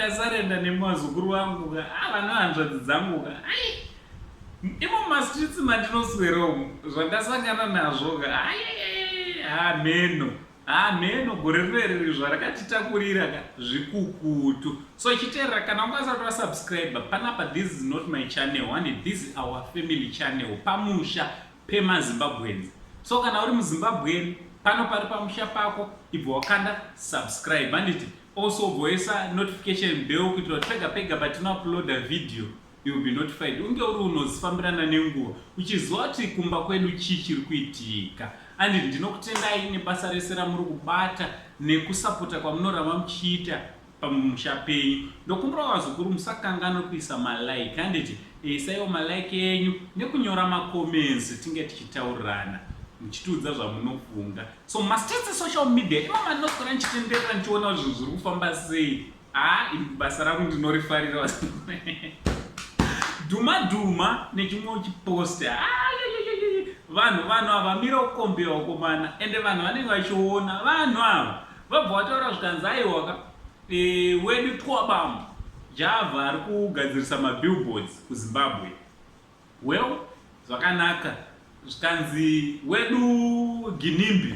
ndasarenda nemazukuru vangu ka ah, vanohanzvadzi dzangu ka imo mastreets mandinosweromo zvandasangana nazvo ka hameno hameno gore rineriri zvarakatitakurira ka zvikukutu so chiterera kana ungasati wasubscribe panapa this is not my channel one this is our family channel pamusha pema Zimbabweans so kana uri muzimbabwean pano pari pamusha pako ibva wakanda subscribe handiti also voisa notification bell kuitira kuti pega pega patinouploada video you will be notified unge uri unozifambirana nenguva uchiziva kuti kumba kwedu chii chiri kuitika andi ndinokutendai nebasa rese ramuri kubata nekusapota kwamunoramba muchiita pamusha penyu ndokumbirawo vazukuru musakanganwe kuisa malike handiti isaiwo malike enyu nekunyora macomments tinge tichitaurirana muchitiudza zvamunofunga so mastets social media imama ndinoswera ndichitenderera ndichiona kuti zvinhu zviri kufamba sei haa ah, basa rangu ndinorifarira vazukuru dhuma dhuma nechimwe chipost ah, vanhu vanhu havamira kukombira ukomana ende vanhu vanenge vachiona vanhu ava vabva vataura zvikanzi aiwaka e, wedu twabam java ari kugadzirisa mabillboards kuzimbabwe well zvakanaka zvikanzi wedu ginimbi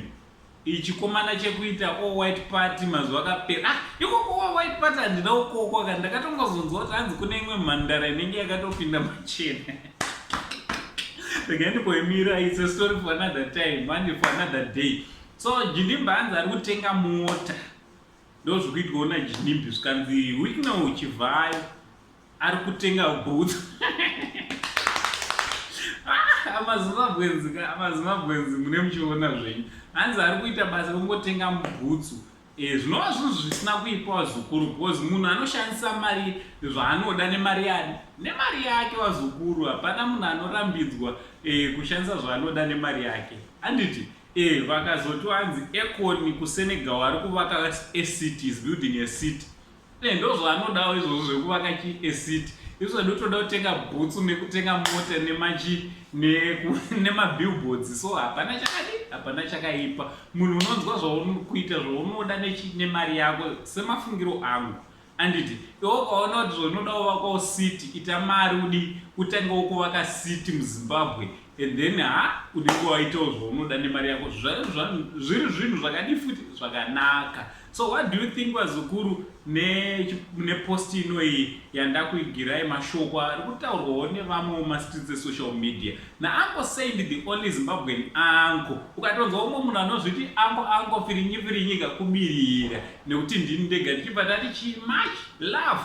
ichikomana chekuita o white party mazuva akapera ah, ikoko wa white party handina ukoko ka ndakatongozonzwa kuti hanzi kune imwe mhandara inenge yakatopinda machena regai ndikoimira its a story for another time mandi for another day So Jinimbi hanzi ari kutenga mota ndozvikuitwa na Jinimbi zvikanzi Wicknell Chivhayo ari kutenga booth ah, amazimbabwenzi ka amazimbabwenzi mune muchiona zvenyu hanzi ari kuita basa kungotenga mubhutsu eh, zvinova e, zvinhu zvisina kuipa wazukuru because munhu anoshandisa mari zvaanoda nemari yake nemari yake wazukuru hapana munhu anorambidzwa e, kushandisa zvaanoda nemari yake handiti Eh vakazoti wanzi Akon kuSenegal ari kuvaka acity is building a city. Eh ndozvaanodawo izvozvo zvekuvaka chi a city. Izvo ndotoda kutenga bhutsu nekutenga mota nemachi nemabillboards so hapana chakadi hapana chakaipa. Munhu unonzwa zvaunokuita zvaunoda nemari yako semafungiro angu. Anditi iwe ukaona kuti zvaunoda kuvakawo city ita mari udii utangewo kuvaka city muzimbabwe and then ha unenge waitawo zvaunoda nemari yako zviri zvinhu zvakadii futi zvakanaka so what do you think vazukuru nepost ne inoiyi yandakuigirai mashoko ari kutaurwawo nevamwewo mastreets esocial media naanko saint the only zimbabwean anko ukatonzwa umwe munhu anozviti anko anko firinyi firinyika kubirira nekuti ndini ndega ndichibva ndati chi much love